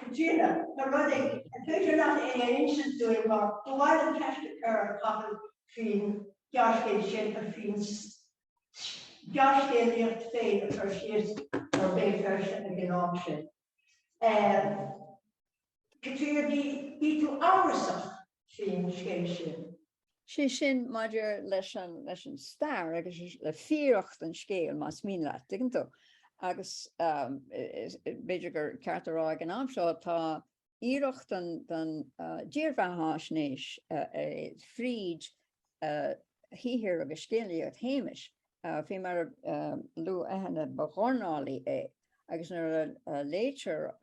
Caitríona, tá rud agam, an féidir leat é a insint dúinn mar ba mhaith liom ceist a chur ar Chathal faoin ghearrscéal sin a faoin ghearrscéalaíocht féin a chur síos ar Béal Feirste ag an am sin. Um, Caitríona, bhí, bhí tú amhrasach faoin scéal sin. is é sin maidir leis an leis an stair agus le fíoracht an scéil, más mian leat, tuigeann tú. Agus b'fhéidir gur ceart a rá ag an am seo, tá iarracht den dírbheathaisnéis fríd shaothar agus scéalaíocht Shéamais, faoi mar a luaigh Eithne, ba dhornálaí é, agus nuair a léitear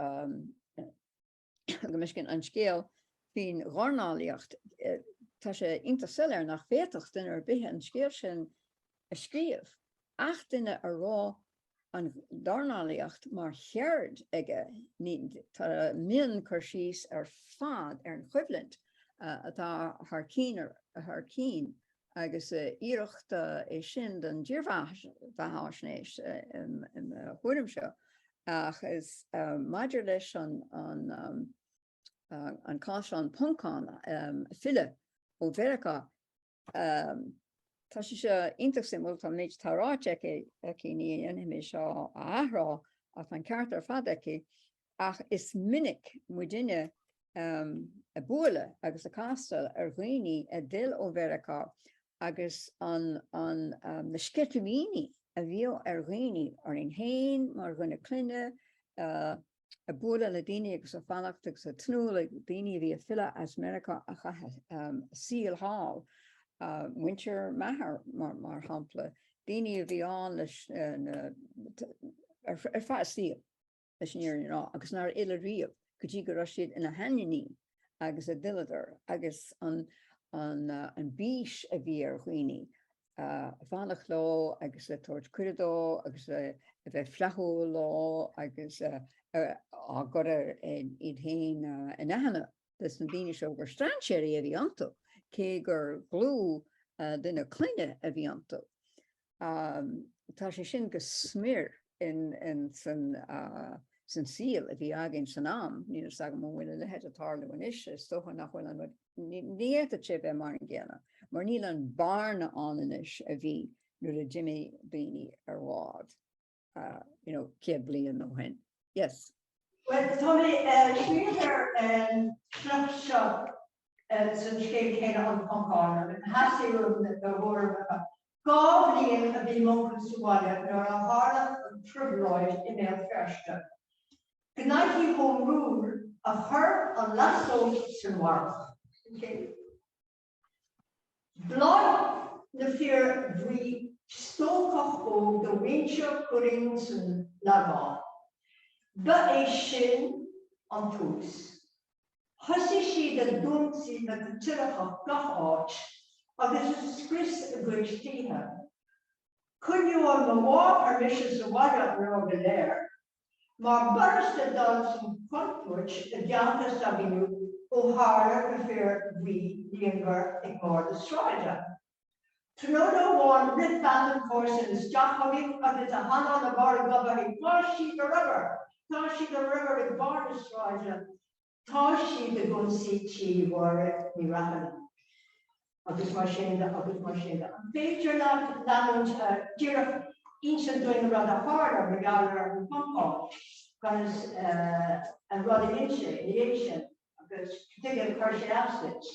Buaiscín, an scéal faoin dornálaíocht, tá sé iontach soiléir nach bhféadfadh duine ar bith an scéal sin a scríobh, ach duine a raibh an dornálaíocht mar cheird aige, tá mionchur síos ar fad ar an choimhlint atá thar cionn agus iarracht é sin den dírbheathaisnéis i mo thuairimse, ach is maidir leis an cás an Poncán fillte ó Mheiriceá, tá sé seo iontach suimiúil, an méid atá ráite aici, ní dhéanfaidh mé seo a athrá, ach tá an ceart ar fad aici, ach is minic muidne ag bualadh agus ag castáil ar dhaoine a d'fhill ó Mheiriceá agus na sceitimíní a bhíodh ar dhaoine orainn féin mar dhuine clainne, ag bualadh le daoine agus ag fanacht agus ag tnúth le daoine a bhí ag filleadh as Meiriceá a chaith a saol thall, muintir m'athar mar shampla, daoine a bhí ann leis ar feadh a saoil. leis an fhírinne a rá agus nár fhill riamh go dtí go raibh siad ina seandaoine agus a d'fhilleadar agus an bís a bhí ar dhaoine ag fanacht leo agus ag tabhairt cuireadh dóibh agus a bheith flaithiúil leo agus ag cur iad féin in aithne do na daoine seo gur strainséirí a bhí iontu cé gur dlúthdhuine clainne a bhí iontu. Tá sé sin go smior insan saol a bhí againn san am. Níl a fhios agam an bhfuil a leithéid ag tarlú anois, is dócha nach bhfuil an rud, ní fhéadfadh sé bheith mar an gcéanna mar níl an bhearna ann anois a bhí nuair a d'imigh daoine ar bhád. uh, you know, céad bliain ó shin. Yes. Well, tá mé eh, smaoineamh ar an fhear seo eh, san scéal céanna an Poncán, an theasaí rud na thuairimh Dhá bhliain a bhí m'uncail sa bhaile nuair a tharla an trioblóid i mBéal Feirste. Gnoithe Home Rule a chuir an lasóg sa bharrach. Mharaigh na fir bhuí stócach óg de mhuintir Churraoin san Lagán. Ba é sin an tús. Thosaigh siad ag ionsaí na gCaitliceach gach áit agus ag scrios a gcuid tithe. Choinnigh mo mháthair mise sa bhaile an lá go léir. Mar b'fhurasta dul i gcontúirt i dteannta a saol úd ó tharla na fir bhuí líonmhar ag barr na sráide. Tráthnóna amháin rith bean de chomharsain isteach chugainn agus a hanál i mbarr a goib léi ag faisnéis go raibh riot, tá siad an riot ag barr na sráide, Tá siad ag ionsaí tí Mháire Ní Raithin agus mar sin de agus mar sin de. An féidir leat leanúint, díreach inis dúinn an rud a tharla mar gheall ar an gcompás agus an rud a dhein sé ina dhiaidh sin agus cad chuige a chuir sé as duit?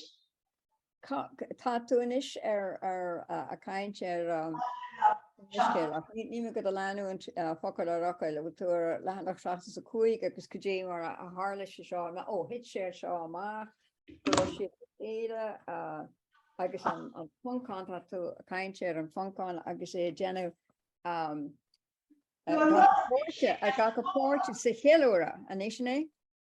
Tá tú anois ar a caint ar scéal ach níl mé do do leanúint focal ar fhocal an bhfuil tú ar leathanach 75 agus cad é mar a tharla sé seo ná ó thit sé seo amach go raibh siad le chéile agus an Poncán tá tú a caint ar an Phoncán agus é déanamh ag glacadh páirte sa cheiliúradh anois sin é?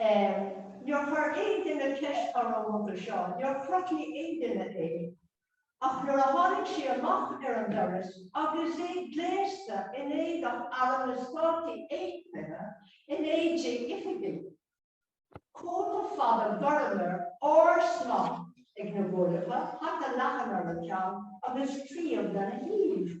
Níor chuir aon duine ceist orm roimhe seo, níor chruthaigh aon duine é, ach nuair a tháinig sé amach ar an doras agus é gléasta in éadach Airm na Stát Aonthaithe in éide oifigigh, cóta fada gorm air, órshnáithe ar na guailleacha, hata leathan ar a cheann agus claíomh lena thaobh.